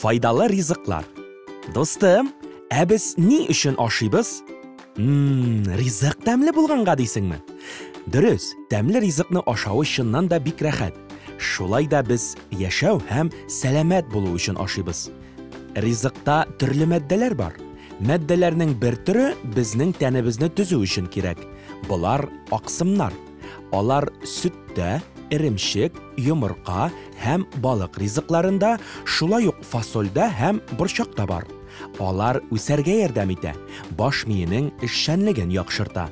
Файдалы ризыклар. Достым, ә без ни өчен ашыйбыз? Мм, ризык тәмле булганга дисеңме? Дөрес, тәмле ризыкны ашау чыннан да бик рәхәт. Шулай да без яшәү һәм сәламәт булу өчен ашыйбыз. Ризыкта төрле матдәләр бар. Матдәләрнең бер төре безнең тәнебезне төзү өчен кирәк. Болар аксымнар. Алар сөттә, эремчек, йомырка һәм балык ризыкларында, шулай ук фасольдә һәм борчакта бар. Алар үсәргә ярдәм итә, баш миенең эшчәнлеген яхшырта.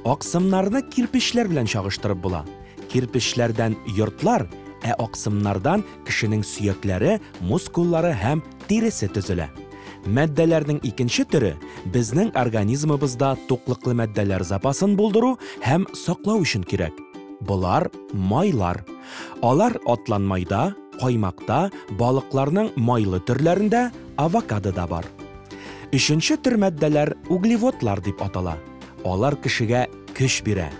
Аксымнарны кирпечләр белән чагыштырып була. Кирпечләрдән йортлар, ә аксымнардан Кешенең сөякләре, мускуллары һәм тиресе төзелә. Матдәләрнең икенче төре, безнең организмыбызда туклыклы матдәләр запасын булдыру һәм саклау өчен кирәк. Болар, майлар. Алар атлан майда, каймакта, балыкларның майлы төрләрендә, авокадода бар. Өченче төр матдәләр углеводлар дип атала. Алар кешегә көч бирә.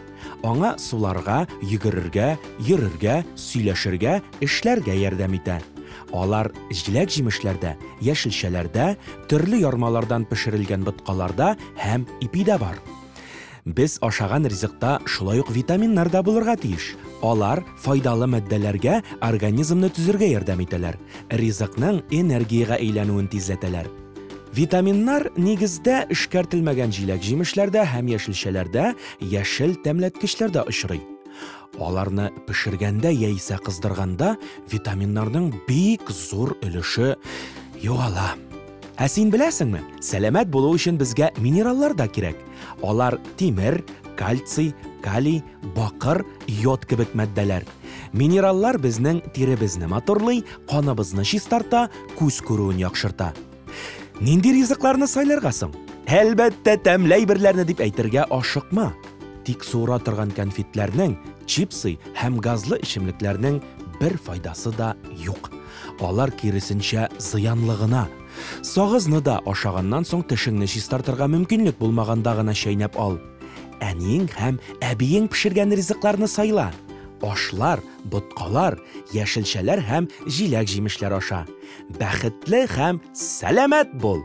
Аңа суларга, йөгерергә, йөрергә, сөйләшергә, эшләргә ярдәм итә. Алар җиләк-җимешләрдә, яшелчәләрдә, төрле ярмалардан пешерелгән боткаларда һәм ипидә бар. Без ашаган ризыкта шулай ук витаминнар да булырга тиеш. Алар файдалы матдәләргә организмны төзергә ярдәм итәләр, ризыкның энергиягә әйләнүен тизләтәләр. Витаминнар нигездә эшкәртелмәгән җиләк-җимешләрдә һәм яшелчәләрдә, яшел тәмләткечләрдә очрый. Аларны пешергәндә яисә кыздырганда витаминнарның бик зур өлеше югала. Ә син беләсеңме, сәламәт булу өчен безгә минераллар да кирәк. Алар тимер, кальций, калий, бакыр, йод кебек матдәләр. Минераллар безнең тиребезне матурлый, каныбызны чистарта, күз күрүен яхшырта. Нинди ризыкларны сайларга соң? Әлбәттә, тәмле әйберләрне дип әйтергә ашыкма. Тик суыра торган конфетләрнең, чипсы һәм газлы эчемлекләрнең бер файдасы да юк. Алар киресенчә зыянлы гына. Сагызны да ашаганнан соң тешеңне чистартырга мөмкинлек булмаганда гына чәйнәп ал. Әниең һәм әбиең пешергән ризыкларны сайла. Ашлар, боткалар, яшелчәләр һәм җиләк-җимешләр аша. Бәхетле һәм сәламәт бул!